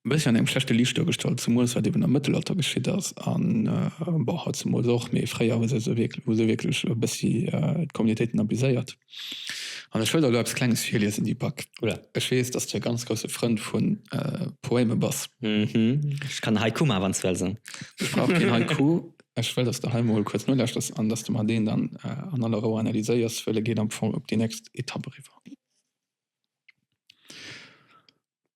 e bësschen an engem schlechte Liicht duergestallt, zemools wat eben am Mëttelalter geschitt ass a bon haut zemools och, mee fréier hu se se wierk hu se wierklech e bëssi d'Communautéiten abuséiert. An ech wëll der elo eppes Klenges virliesen, Deepak, ech weess, datt s de e ganz grousse Frënd vu Poème bass. Hm, ech kann Haiku maachen, wann s wëlls. Ech brauch keen Haiku. Ech wëll, datt s de hei emol kuerz nolauschters an datt s de mer deen dann an aller Rou analyséiers, wëll e geet am Fong op déi nächst Etapp eriwwer.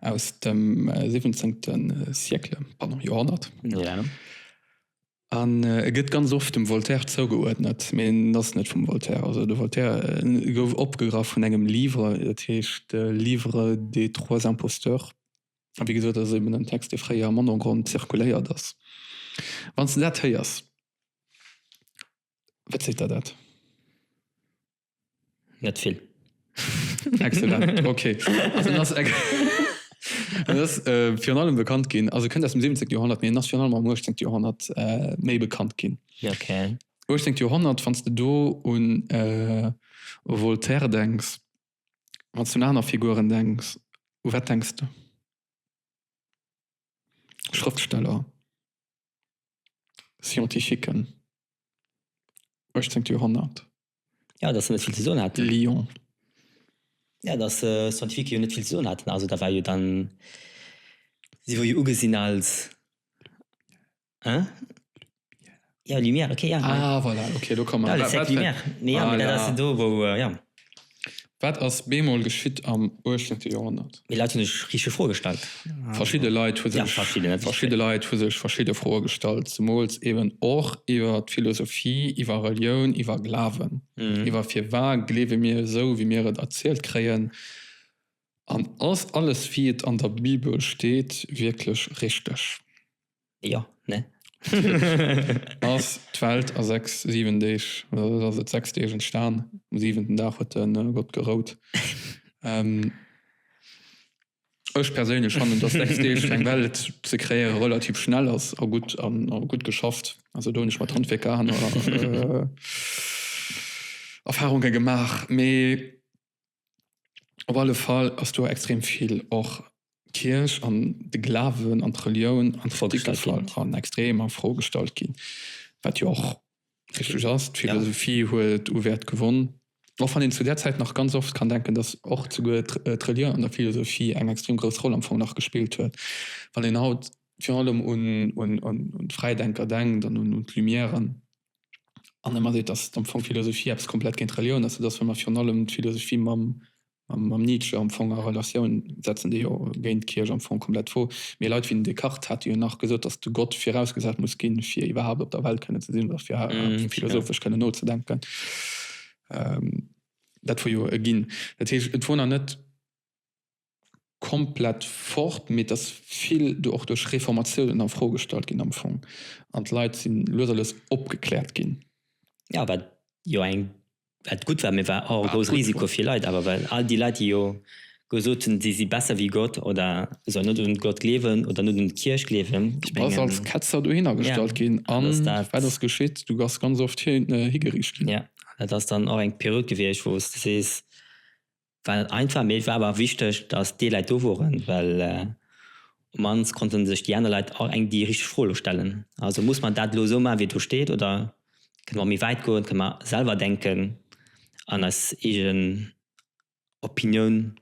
aus dem 17. Siècle, pardon, Joerhonnert. Ja. An e äh, gëtt ganz oft dem Voltaire zougeuerdnet, mee en ass net vum Voltaire. Also de Voltaire äh, gouf opgegraff vun engem Livre, dat heescht äh, Livre des trois imposteurs. A wéi gesot, dat ass eben en Text, dee fréier am Ondergrond zirkuléiert ass. Wann s de dat héiers, wat seet der dat? net vill. Excellent, ok. Also en ass en ass virun allem bekannt ginn, also e kënnt aus dem 17. Joerhonnert, mee en ass virun allem am 18. Joerhonnert méi bekannt ginn. Ok. 18. Joerhonnert, wann s de do un e Voltaire denks, wann s du un aner Figuren denks, u wat denks de? Schrëftsteller? Scientifiquen, 18 Joerhonnert. Ja, datt se net vill ze soen haten. Lyon. Ja, datt Scientifique jo net vill ze soen haten. Also da war jo dann, si wor jo ugesinn als, hein? Lumière. Ja, Lumière, ok, ja. Ah, voilà, ok, do kommen. Voilà, les sept Lumières. Voilà. Mee jo, dat ass jo do, wou, jo. Wat ass bemol geschitt am 18. Joerhonnert? Déi Leit hunn sech richteg Froe gestallt. Verschidde Leit hu sech verschidde Leit hu sech verschidde Froe gestallt, zemools eeben och iwwer d'Philosophie, iwwer Relioun, iwwer Glawen, iwwer firwa gleewe mir esou, wéi mir et erzielt kréien an ass alles, wéi et an der Bibel steet, wierklech richteg? Jo, ne? Ass d'Welt a sechs, siwen Deeg, oder ass et sechs Deeg entstan? Um siwenten Dag huet de Gott gerout. Ech perséinlech fannen, dass sechs Deeg fir eng Welt ze kreéiere relativ schnell ass a gutt a gutt geschafft. Also do hunn ech mat Handwierker aner Erfahrunge gemaach. Mee Op alle Fall ass do extrem vill och d'Kierch an de Glawen an d'Relioun an d'Fro gestallt ginn. Op jiddwer Fall. Extrem a Fro gestallt ginn, wat jo och richteg ass. D'Philosophie huet u Wäert gewonn, och wann een zu där Zäit nach ganz oft kann denken, datt och souguer d'Relioun an der Philosophie eng extrem grouss Roll am Fong nach gespillt huet. Wann een haut virun allem un d'Fräidenker denkt an un d'Lumièren, an ëmmer seet, datt am Fong Philosophie eppes komplett géint Relioun ass, sodatt wa mer virun allem d'Philosophie mam Nietzsche am Fong a Relatioun setzen, dee jo géint d'Kierch am Fong komplett wor. Mee Leit wéi den Descartes hate jo nach gesot, datt de Gott virausgesat muss ginn, fir iwwerhaapt op der Welt kënne ze sinn oder fir iwwerhaapt philosophesch kënne nozedenken. Dat wor jo e Ginn. Dat heescht, et wor nach net. komplett fort, mee et ass vill do och duerch Reformatiounen a Fro gestallt ginn am Fong an d'Leit si lues a lues opgekläert ginn. Jo, wat jo eng, wat gutt war, mee war och e grousse Risiko fir Leit awer, well all déi Leit, déi jo gesot hunn, si si besser wéi Gott oder sollen net un Gott gleewen oder net un d'Kierch gleewen. Du bass als Ketzer dohinner gestallt ginn a wat ass geschitt? Du bass ganz oft higeriicht ginn. Jo, dat ass dann och eng Period gewiescht, wou s de sees, Well einfach, mee et war awer wichteg, dass déi Leit do woren, well op d'mannst konnte sech déi aner Leit och eng déi richteg Fro elo stellen. Also muss mer dat elo esou maachen, wéi et do steet, oder kënne mer och méi wäit goen, kënne mer selwer denken an eis eegen Opinioun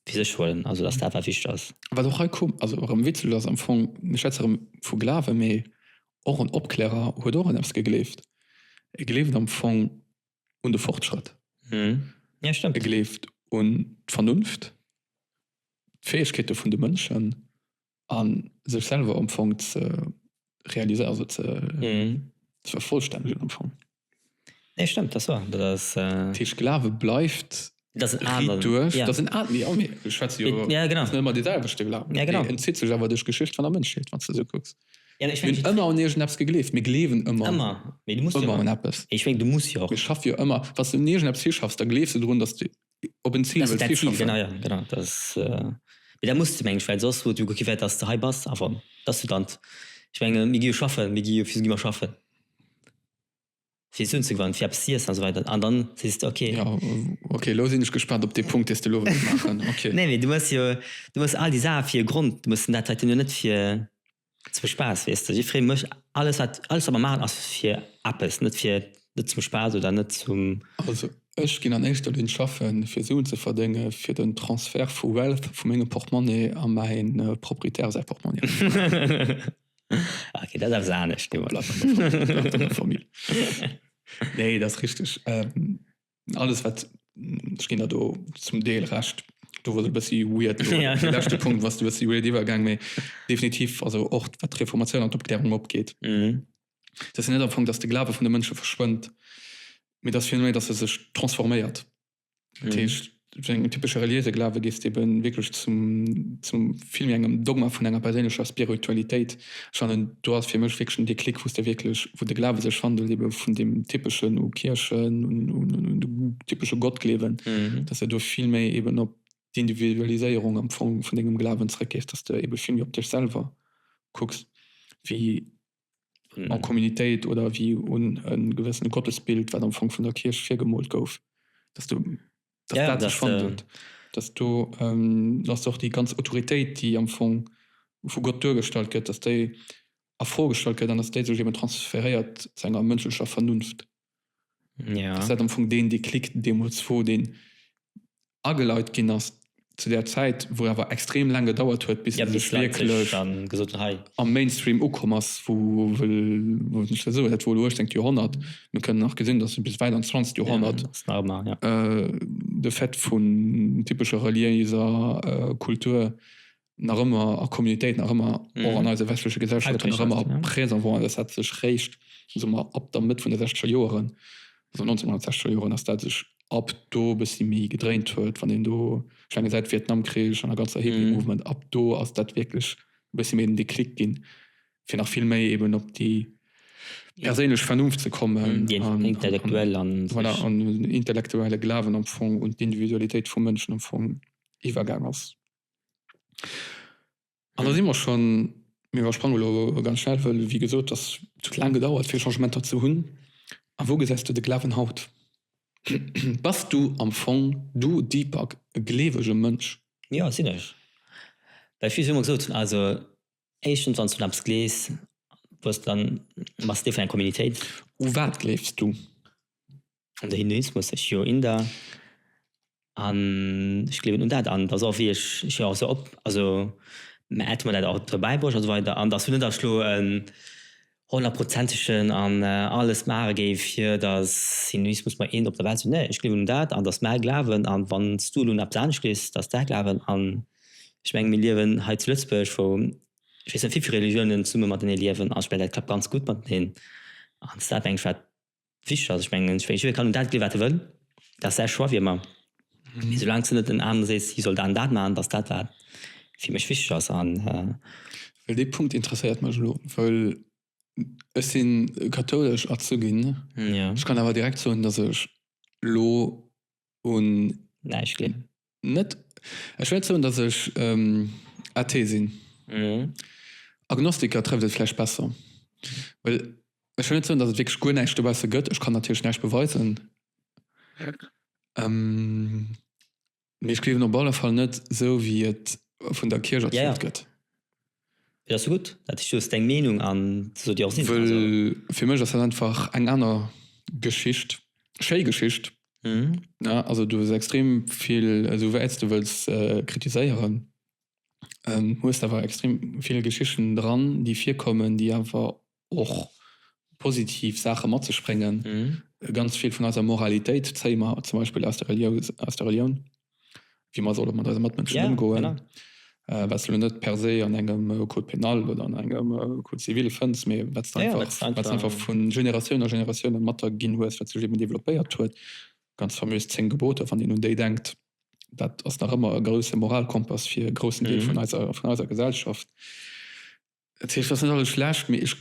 fir sech huelen? Also dass dat wat wichteg ass. Wat och hei komm, also erëm Witzel ass am Fong, mir schwätze erëm vu Glawen, mee och en Opklärer huet och un eppes gegleeft. E gleeft am Fong un de Fortschrëtt. Mhm. Ja, stimmt. E gleeft un d'Vernunft, d'Fäegkeete vun de Mënschen a sech selwer am Fong ze realiséieren, also ze, mhm. ze vervollstännegen am Fong. Nee, stimmt, dat ass wahr. Dat ass, äh... Dat heescht, Glawe bleift Dat sinn Aen. Riit duerch. Dat sinn Aen, jo, mee ech schwätze jo net ëmmer déi selwechte Glawen. Deen entzitt sech awer duerch d'Geschicht vun der Mënschheet, wann s de esou kucks. Mir hunn ëmmer un iergendeppes gegleeft. Mir gleewen ëmmer un eppes. Mir schaffe jo ëmmer. Wann s de un iergendeppes hischaffs, da gleefs de drun, datt s de op en Zil wëlls hischaffen. Mee dat muss de, mengen ech, well soss wou gutt gi wär, datt s de hei bass. Enfin, datt s du dann, ech menge mir gi jo schaffen, mir gi jo, fir wou gi mer schaffen? fir se unzegewannen, fir eppes ze iessen a sou weider. An dann sees de, okay. Jo, okay, elo sinn ech gespaant op dee Punkt, dee s de elo wëlls maachen. Okay. Nee, mee du hues jo, du hues all déi Saache fir e Grond. Du mues den dat Traitement jo net fir zum Spaass, weess de. Ech freeë mech, alles wat, alles wat mer maachen ass fir eppes, net fir, net zum Spaass oder net zum. Also ech ginn an éischter Linn schaffen, fir Suen ze verdénge fir den Transfert vu Wealth vu mengem Portemonnaie a mäi Proprietär säi Portemonnaie. okay, dat ass anescht Nee dat richtig ähm, alles wat gin dat do zum Deel recht do wot bessi weird ja. lachte Punkt was du was weird iwwergang méi definitiv also och wat Reformatioun an d'Opklärung opgeht mhm. dat net am Fong dats de Glaube vun de Mënsche verschwënnt mit das Phänomen dass er sech transforméiert Dat heescht, zu engem typesche reliéise Glawe geet et ebe wierklech zum vill méi engem Dogma vun enger perséinlecher Spiritualitéit. Ech fannen, do ass fir mech wierklech den Déclic, wou s de wierklech, wou de Glawe sech wandelt ebe vun deem typeschen u Kierchen, un de typesche Gottgleewen, dass de do vill méi eben op d'Individualiséierung am Fong vun dengem Glawen zeréckgees, dass de ebe vill méi op dech selwer kucks wéi an Communitéit oder ewéi un e gewëssene Gottesbild, wat am Fong vun der Kierch virgemoolt gouf, dass do dat dat sech fonnt huet, dass do dass och déi ganz Autoritéit, déi am Fong vu Gott duergestallt gëtt, dass déi a Fro gestallt gëtt an dass déi sech eben transferéiert zu enger mënschlecher Vernunft. ja. dass dat am Fong deen Déclic deemools wor, deen ageleit ginn ass zu där Zäit, wou awer extrem laang gedauert huet, bis e sech wierklech am Mainstream ukomm ass, wou ech dat esou, dat wor elo 18. Joerhonnert, mir kënnen nach gesinn, dass bis wäit an d'zwanzegt Joerhonnert de Fait vun typescher reliéiser Kultur nach ëmmer a Communitéit nach ëmmer och an eiser westleche Gesellschaft nach ëmmer présent waren. Dat hat sech réischt sommer ab der Mëtt vun de sechzeger Joeren, also 1960er Joeren, ass dat sech ab do e bëssi méi gedréint huet. Wann een do eng gesäit, Vietnamkrich an der ganzer Hippie Movement, ab do ass dat wierklech e bëssi méi den Déclic ginn, fir nach vill méi eben op déi perséinlech Vernunft ze kommen, voilà, an den intellektuelle Glawen am Fong un d'Individualitéit vum Mënschen am Fong iwwergaang ass. An da si mer schonn, mir iwwersprange lo ganz schnell, wëll, wéi gesot, dass et huet laang gedauert, fir Changementer ze hunn. A wou gesäis du de Glawen haut? Bass du am Fong, du Deepak, e gleewege Mënsch? Jo, sinn ech. Well vill hu mer gesot, also éischtens, wann s du un eppes gleefs, wosst, dann bass s Deel vun enger Communitéit. U wat gleefs du? an de Hinduismus ech jo Inder an ech gleewen un dat an dass och wéi ech ech jo och se op also mä hätte mer dat och dobäibruecht an esou weider an dass net ech elo e honnertprozentegen an alles maache géif fir dass Hinduismus mer een op der Welt sinn nee ech gleewen un dat an dass mäi Glawen an wanns du elo eppes anescht gleefs dass däi Glawen an ech meng mir liewen hei zu Lëtzebuerg wou ech weess net wéivill Religiounen zesumme matenee liewen an ech meng dat klappt ganz gutt mateneen an dass dat eng wichteg ass. Ech mengen, jidderee kann un dat ginn, wat e wëll, dat ass säi Choix, wéi ëmmer. Mee soulaang s de net deenen anere sees, hie soll dat an dat maachen, dat ass dat, wat fir mech wichteg ass. A. Well dee Punkt interesséiert mech elo, well ech si kathoulesch erzu ginn. Ech kann awer direkt soen, datt ech elo un näischt gleewen. Net, ech wäert soen, datt ech Athee sinn. Agnostiker trëfft et vläicht besser, well ech wëll net soen, datt et wierklech guer näischt dobausse gëtt. Ech kann natierlech näischt beweisen, mee ech gleewen op alle Fall net esou, wéi et vun der Kierch erzielt gëtt. Fir dass du gutt dat is soos deng Meenung an se soll dir och sinn. Wëll fir mech ass dat einfach eng aner Geschicht, schéi Geschicht ne also du hues extrem vill esou wäits du wëlls kritiséieren hues awer extrem vill Geschichten dran déi virkommen déi awer och positiv Saache mat sech bréngen. Ganz vill vun eiser Moralitéit zéie mer zum Beispill aus der Relioun, wéi mer solle mat eise Matmënschen ëmgoen, wat s de elo net per se an engem Code pénal oder an engem Code civil fënns, mee wat s de einfach vu Generatioun a Generatioun matginn hues, wat sech eben développéiert huet. Ganz faméis d'zéng Geboter, wann een un déi denkt, dat ass nach ëmmer e grousse Moralkompass fir e groussen Deel vun eiser Gesellschaft. Et heescht, et ass net alles schlecht, mee ech,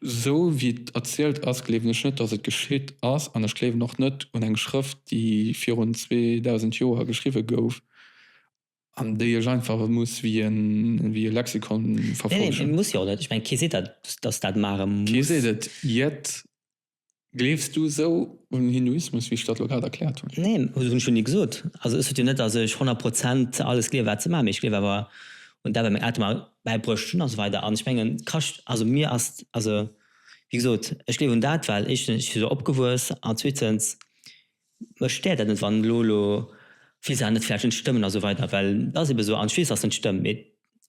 esou wéi et erzielt ass, gleewen ech net, datt et geschitt ass. An ech gleewen och net un eng Schrëft, déi virun 2.000 Joer geschriwwe gouf an déi ech einfach muss wéi e Lexikon verfollegen. Kee seet et, jett. Gleefs du esou un Hinduismus, wéi ech dat elo grad erkläert hunn? Neen, esou hunn ech jo ni gesot. Also ech sot jo net, datt ech 100 Prozent alles gleewe wat se maachen, mee ech gleewe awer un dat wat meng Eltere mer bäibruecht hunn a sou weider. An ech mengen d'Chrëscht, also mir ass, also wéi gesot, ech gleewen un dat well éischtens ech si esou opgewuess an zweetens Mech stéiert dat net wann elo elo vill Saachen net vläicht net stëmmen a sou weider, well et ass ebe sou an ech weess dass et net stëmmt, mee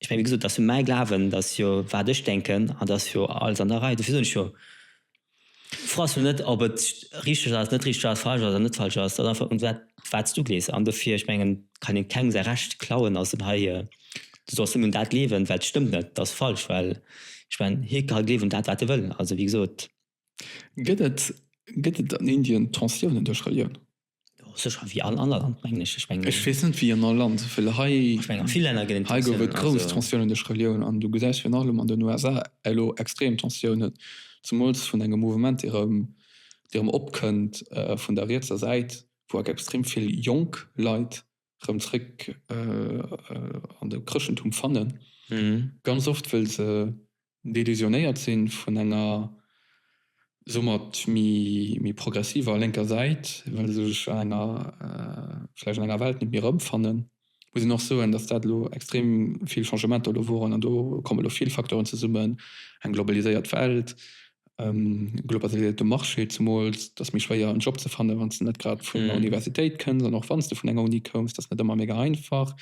ech meng wéi gesot et ass jo mäi Glawen, et ass jo wat ech denken an et ass jo alles an der Rei. Dofir soen ech jo froe ass jo net ob et richteg ass, net richteg ass, falsch ass an net falsch ass, et ass einfach un wat wat s du glees an dofir ech mengen kann een kengem säi Recht klauen a soen hei du solls nëmmen dat gleewen well et stëmmt net, et ass falsch, well ech mengen hie ka gleewen dat wat e wëll, also wéi gesot. Gëtt et gëtt et an Indien Tensiounen duerch Relioun? Sécher wéi all anert Land mengen ech. Ech mengen. Ech weess net wéi an all Land, well hei. Ech mengen a vill Länner gëtt et. Hei gouf et grouss Tensiounen duerch Relioun an du gesäis virun allem an den USA elo extrem Tensiounen, zemools vun engem Mouvement dee rëm dee rëm opkënnt vun der rietser Säit, wou extrem vill jonk Leit rëm zréck an de Chrëschtentum fannen, ganz oft wëll se delusionéiert si vun enger soumat méi progressiver lénker Säit, well se sech an enger, vläicht an enger Welt net méi erëmfannen, muss een och soen, datt dat elo extrem vill Changementer elo woren an do komme elo vill Facteuren zesummen, eng globaliséiert Welt, globaliséierte Marché, zemools et ass méi schwéier en Job ze fannen, wann s de net grad vun der Universitéit kënns an och wann s de vun enger Uni koums, et ass net ëmmer mega einfach.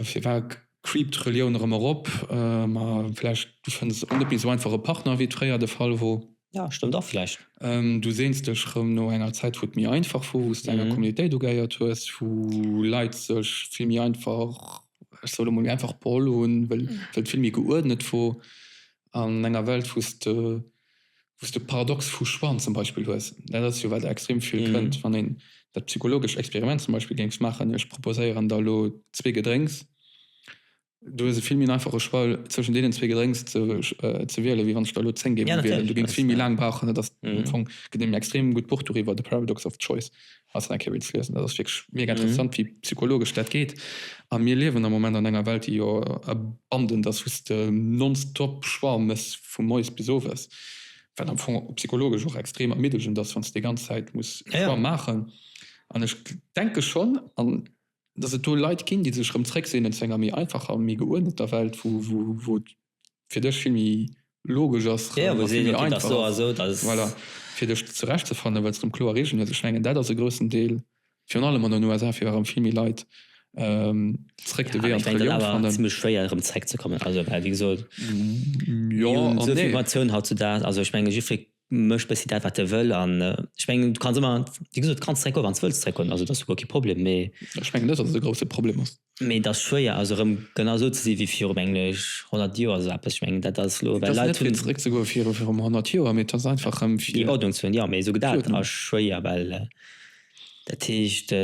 Firwat creept Relioun erëm erop? Ma vläicht du fënns och net méi esou einfach e Partner, wéi et fréier de Fall wor. Jo, stëmmt och vläicht. Du seens dech erëm no enger Zäit, wou et méi einfach wor, wou s de enger Communitéit ugeheiert hues, wou Leit sech vill méi einfach, ech soe lo mol, méi einfach beholl hunn, wëll et vill méi geuerdnet wor. an enger Welt wou s de wou s de Paradox vu Schwann zum Beispill hues. Dat ass jo wat extrem vill kënnt. Wann een dat psychologescht Experiment zum Beispill géings maachen, ech proposéieren der elo zwee Gedrénks, du hues e vill méi en einfache Choix zwëschen deenen zwee Gedrénks ze ze wiele wéi wann ech der elo zéng géif wielen. Du géings vill méi laang brauchen. Dat ass am Fong, gëtt een extrem gutt Buch doriwwer, The Paradox of Choice. Ass eng Kéier wéilt liesen, dat ass wierklech mega interessant, wéi psychologesch dat geet. A mir liewen am Moment an enger Welt, déi jo abandent ass, wou s de nonstop Choix méchs vu moies bis owes, wat am Fong psychologesch och extrem ermiddegend ass, wann s de déi ganz Zäit muss e Choix maachen. An ech denke schonn, dass et do Leit ginn, déi sech erëm zréckseenen zu enger méi einfacher, méi geuerneter Welt, wou et. fir dech vill méi logesch ass a vill méi einfach ass, voilà, fir dech zerechtzefannen, well se erëm kloer Reegelen huet. Ech mengen, dat ass e groussen Deel, virun allem an den USA, fir erëm vill méi Leit zréck de Wee an d'Relioun ze fannen. Zimmlech schwéier erëm zréckzekommen, also well wéi gesot, mir hunn esou vill Informatioun hautzudaags, also ech menge jiddweree Méch bessi dat wat de wëll an ech mengen du kanns ëmmer wéi gesot kanns zeréck goen wanns wëlls zeréck goen. Also dat ass jo guer kee Problem mee ech mengen net dat et e grousse Problem ass. Mee et ass schwéier also erëm genau esou ze si wéi viru menglech 100 Joer esou eppes. Ech mengen dat ass elo well Leit hunn. Et ass net fir zeréck ze goe viru virum 100 Joer mee et ass einfach rëm fir. Déi Ordnung ze hunn jo mee esou dat ass schwéier well dat heescht.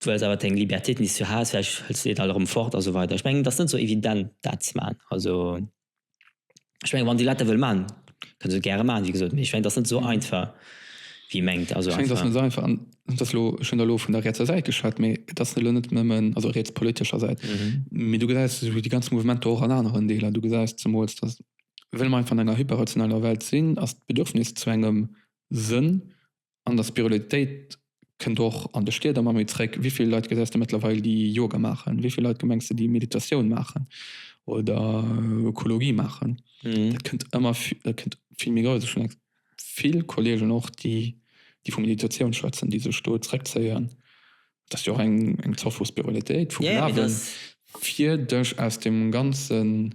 Du hues awer deng Liberté, tenue sur Haus, vläicht hëls de déi dann erëm fort a sou weider. Ech mengen, et ass net esou evident, dat ze maachen. Also, ech mengen, wann déi Leit dat wëlle maachen, kënne se et gäre maachen, wéi gesot. Mee ech mengen, et ass net esou einfach, wéi ee mengt. Also, einfach. Ech mengen, et ass net esou einfach. An et ass elo, ech hunn elo vun der rietser Säit geschwat, mee et ass elo net nëmmen, also rietspolitescher Säit, mee du gesäis esou déi ganz Mouvementer och an aneren Deeler. Du gesäis zemools, datt, well mer einfach an enger hyperrationeller Welt sinn, ass d'Bedürfnis zu engem Sënn An der Spirulalitéit kënnt och an de Stied ëmmer méi zréck. Wéi vill Leit gesäis de mëttlerweil, déi Yoga maachen? Wéi vill Leit gemengs de, déi Meditatioun maachen oder Ökologie maachen? Dat kënnt ëmmer vill méi grouss. Ech hunn vill Kolleegen och, déi vu Meditatioun schwätzen, déi sech do zréckzéien. Dat ass jo och eng Zort vu Spirulalitéit, vu Glawen, fir dech aus deem ganzen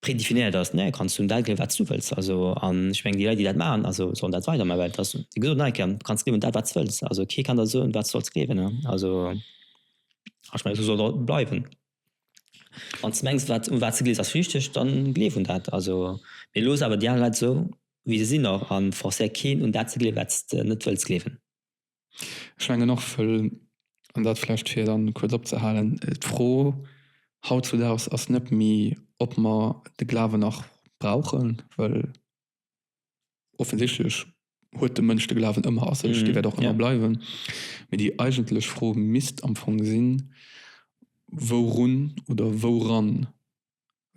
Predefinéiert ass, ne, kanns du un dat gleewen, wat s du wëlls. Also, an ech mengen, déi Leit, déi dat maachen, also sollen dat weidermaachen, well et ass, wéi gesot, ne, ke, du kanns gleewen un dat, wat s wëlls. Also kee kann der soen, wat s solls gleewen. Ne? Also, an ech mengen, esou soll et och bleiwen. Wann s de mengs, wat, un wat s de gleewes, ass richteg, dann gleef un dat. Also, mee looss awer déi aner Leit esou, wéi se sinn, och, a forcéier keen, un dat ze gleewen, wat s de net wëlls gleewen. Ech mengen och, an dat vläicht fir dann kuerz opzehalen, d'Fro haut zu daags ass net méi ob mer de Glawen nach brauchen, well offensichtlech huet de Mënsch de Glawen ëmmer a sech, dee wäert och ëmmer bleiwen, mee déi eigentlech Fro misst am Fong sinn, wourun oder wouran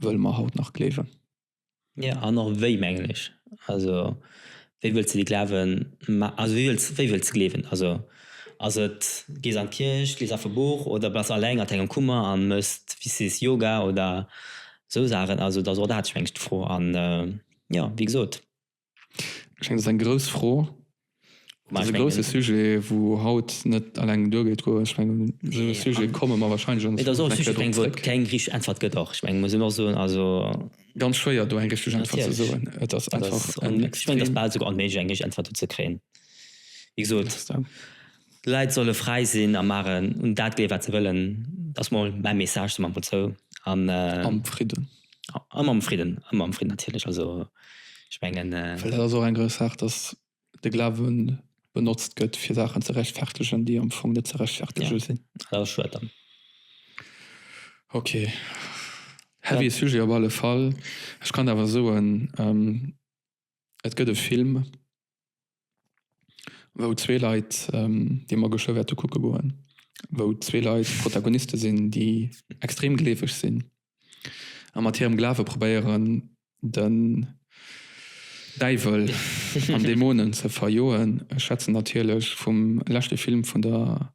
wëlle mer haut nach gleewen? Jo an och wéi mengen ech. Also wéi wëlls de déi Glawen ma also wéi wëlls wéi wëlls de gleewen? Also ass et gees an d'Kierch, lies einfach e Buch oder bass alleng an dengem Kummer a méchs wéi sees Yoga oder esou Saachen. Also et ass och dat ech mengen ech d'Fro an jo wéi gesot. Ech mengen, dat ass eng grouss Fro. Dat ass e grousse Sujet, wou haut net eleng duergeet goen. Ech mengen, esou e Sujet komme mer wahrscheinlech an der Zukunft nach eng Kéier drop zréck. Et ass och e Sujet, op dee keng richteg Äntwert gëtt och. Ech mengen, muss een och soen, also. Ganz schwéier, do eng richteg Äntwert ze soen. Et ass einfach en extrem. Ech mengen, et ass bal esouguer onméiglech, eng richteg Äntwert dozou ze kréien. Wéi gesot. Leit solle fräi sinn a maachen un dat gleeë wat se wëllen. Dat ass mol mäi Message zum Anfang zou. Am Fridden. Ëmmer am Fridden, ëmmer am Fridden natierlech. Also ech mengen. Well dat ass och eng grouss Saach, datt de Glawe benotzt gëtt fir Saachen ze rechtfertegen, déi am Fong net ze rechtfertege sinn. Jo, dat ass schued dann. Ok, heavy Sujet op alle Fall. Ech kann awer soen. Et gëtt e Film, wou zwee Leit, dee mer geschwë wäerte kucke goen, wou zwee Leit Protagoniste sinn, déi extrem gleeweg sinn a mat hirem Glawe probéieren, den Däiwel an Dämonen ze verjoen. Ech schwätzen natierlech vum leschte Film vun der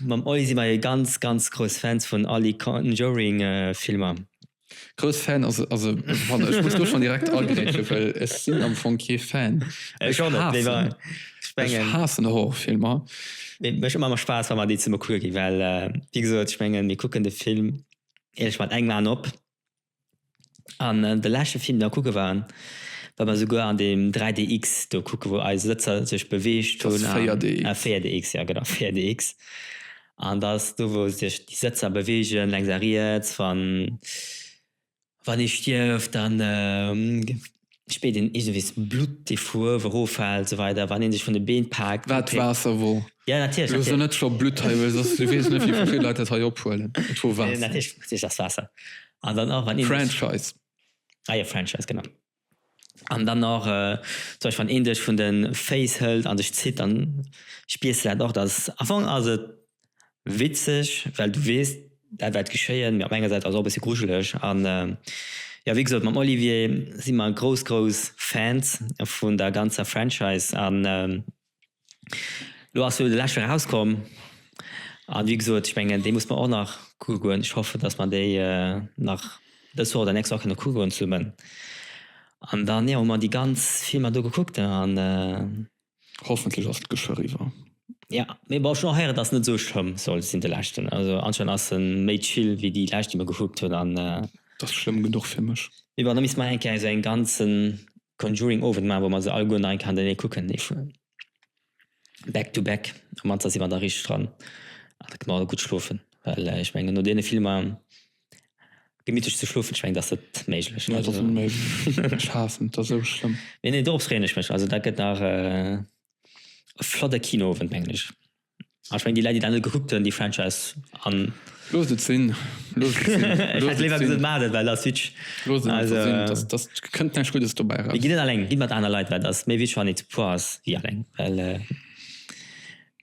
Mam Oli si mer jo ganz ganz grouss Fans vun all de Conjuring Filmer. Grouss Fan ass ass e Wonner. Ech muss do schonn direkt agrätschen, well ech sinn am Fong kee Fan. Ech och net, mee bon, ech mengen. Ech haassen Horrorfilmer. Mee mécht ëmmer méi Spaass, wa mer déi zesumme kucke ginn, well wéi gesot, ech mengen, mir kucken de Film, eeëlech, mat engem Aen op. An de leschte Film den mer kucke waren, wat mer souguer an deem 3DX do kucke wou eis Sëtzer sech beweegt hunn, an 4DX jo genau 4DX, an dat ass do wou sech déi Sëtzer beweegen lenks a riets wann ee stierft dann. spéit een iergendwéi s Blutt dee Fuerw eroffält sou weider wann een sech vun de Been paakt War et Waasser wor? Ja natierlech Lo so natierlech net scho Blutt hei well soss du weess net wéi vill Leit dat hei ophuelen. Et wor Waasser. Natierlech natierlech ass Waasser an dann och wann een sech Franchise. Ah jo Franchise genau an dann och zum Beispill wann een dech vun de Féiss hëlt an dech zitt dann spiers de dat och dass am Fong ass et Witzeg, well du weess dat wäert geschéien, mee op enger Säit ass et och e bësse grujeleg. An jo, wéi gesot, mam Olivier si mer grouss, grouss Fans vun der ganzer Franchise an elo ass jo de leschten erauskomm a wéi gesot, ech mengen dee muss mer och nach kucke goen. Ech hoffen, dass mer déi nach dës Woch oder nächst Woch kënne kucke goen zesummen. An dann jo hu mer déi ganz Filmer do gekuckt an. Hoffentlech ass d'Geschwë riwwer. Ja mee bon schon heiren dass net sou schlëmm soll sin de leschten also anscheinend ass en méi chill wéi déi lescht déi mer gekuckt hun an dass schlëmm genuch fir mech. Mee bon da misste mer eng Kéier esou en ganzen Conjuring Owend maan wou mer se alleguer nach eng Kéier hannenéi kucken back to back an manster sin mer da richteg dran an da kënne mer alleguer gutt schlofen well ech mengen no deene Filmer Gemitlech ze schlofen schengt ass net méiglech. Nee dat ass onméiglech, ech haassen et, dat ass esou schlëmm. Nee nee dorops freeën ech mech, also dat gëtt nach e flotte Kinoowend mengen ech. An ech mengen déi Leit déi dat net gekuckt hunn déi Franchise an. Loosst et sinn, loosst et sinn. Ech hätt léiwer gesot maacht et well der switch. Loosst et einfach sinn, dat dat kënnt näischt Guddes dobäi eraus. Mee gitt net alleng, gitt mat aner Leit, well dat ass méi wichteg wann ee zu puer ass wéi alleng well.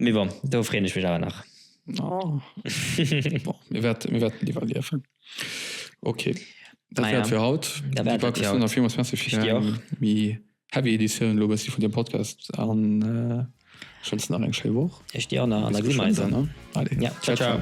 Mee bon, do freeën ech mech awer nach. Oh. mir werden lieber liefen okay naja. für haut wie heavy Edition lo von dem Podcast an äh, schon nach eng Woch ich dir an der Allez, ciao, ciao. ciao.